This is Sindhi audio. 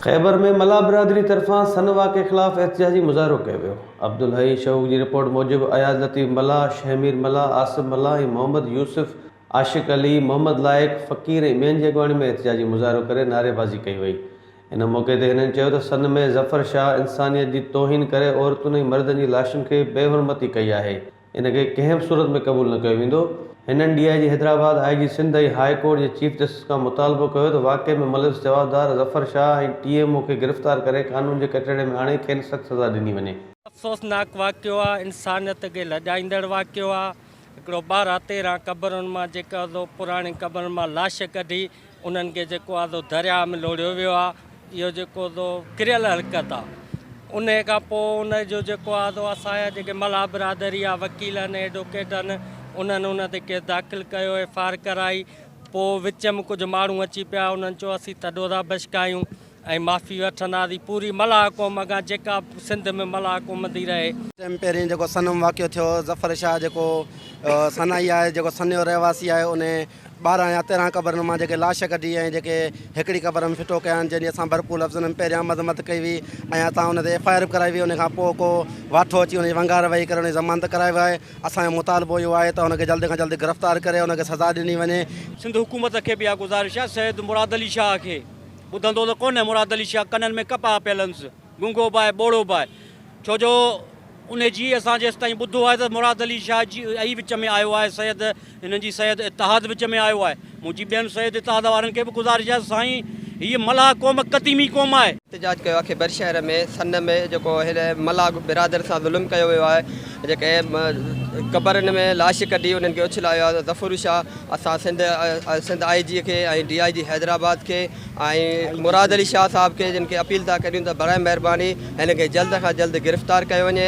خيبر ۾ ملاح برادري طرفان سن واقعي خلاف احتجاجي مظاهرو ڪيو ويو عبدالحئي شوق جي رپورٽ موجب اياز لطيف ملاح شهمير ملاح آصف ملاح ۽ محمد يوسف عاشق علي، محمد لائق، فقير ۽ ٻين جي اڳواڻي ۾ احتجاجي مظاهرو ڪري نعريبازي ڪئي وئي. ان موقعي تي هنن چيو ته سن ۾ ظفر شاهه انسانيت جي توهين ڪري عورتن ۽ مردن جي لاشن کي بي حرمتي ڪئي آهي، ان کي ڪنهن به صورت ۾ قبول نه ڪيو ويندو. هنن D I G Hyderabad, I G Sindh ۽ high court جي چيف جسٽس کان مطالبو ڪيو ته واقعي ۾ ملوث جوابدار Zafar Shah ۽ T M O کي گرفتار ڪري قانون جي ڪٽهڙي ۾ آڻي کين سخت سزا ڏني وڃي. افسوسناڪ واقعو آهي، انسانيت کي لڄائيندڙ واقعو آهي، هڪڙو ٻارهن تيرهن قبرن مان جيڪي آدو پراڻين قبرن مان لاش ڪڍي انهن کي جيڪو آدو درياء ۾ لوڙهيو ويو آ اهو جيڪو آدو ڪريل حرڪت آ ان کان پو ان جو جيڪو آدو اسان جا جيڪي ملاح برادري آ وڪيل آهن ايڊوڪيٽ آهن انهن ان تي ڪيس داخل ڪيو ايف آر ڪرائي پو وچ م ڪجهه ماڻهو اچي پيا انهن چيو اسين ٿڏو ٿا بشڪايون ۽ معافي وٺنداسين پوري ملاح قوم کان جيڪا سنڌ ۾ ملاح گهمندي رهي. تنهن پهرين جيڪو سنم واقعو ٿيو ظفر شاهه جيڪو سنائي آهي جيڪو سن جو رهواسي آهي انهي ٻارهن يا تيرهن قبرن مان جيڪي لاش ڪڍي ۽ جيڪي هڪڙي قبر ۾ ڦٽو ڪيائين جنهن جي اسان ڀرپور لفظن ۾ پهريان مذمت ڪئي هئي ۽ اتان ان تي ايف آء آر به ڪرائي وئي انهي کان پوء ڪو واٺو اچي انهي جي ونگار وهي ڪري انهي ضمانت ڪرائي ويو آهي اسان جو مطالبو اهو آهي ته ان کي جلد کان جلد گرفتار ڪري ان کي سزا ڏني وڃي. سنڌ حڪومت کي به اها گذارش آهي سيد مراد علي شاهه کي. ٻڌندو ته ڪونه مراد علي شاهه ڪنن ۾ ڪپاهه پيل هنس گونگو به آهي ٻوڙو به آهي ڇو جو انهي جي اسان جيستائين ٻڌو آهي ته مراد علي شاهه جي اي وچ ۾ آيو آهي سيد هنن جي سيد اتحاد وچ ۾ آيو آهي منهنجي ٻين سيد اتحاد وارن کي به گذارش آهي سائين هيء ملاح قوم قديمي قوم آهي. احتجاج ڪيو آهي بر شهر ۾ سن ۾ جيڪو هن ملاح برادر سان ظلم ڪيو ويو آهي جيڪي قبرن ۾ لاش ڪڍي انهن کي اڇلايو آهي ظفر شاهه اسان سنڌ سنڌ آء جي کي ۽ ڊي آء جي حيدرآباد کي ۽ مراد علي شاهه صاحب کي جن کي اپيل ٿا ڪريون ته براء مهرباني هن کي جلد کان جلد گرفتار ڪيو وڃي.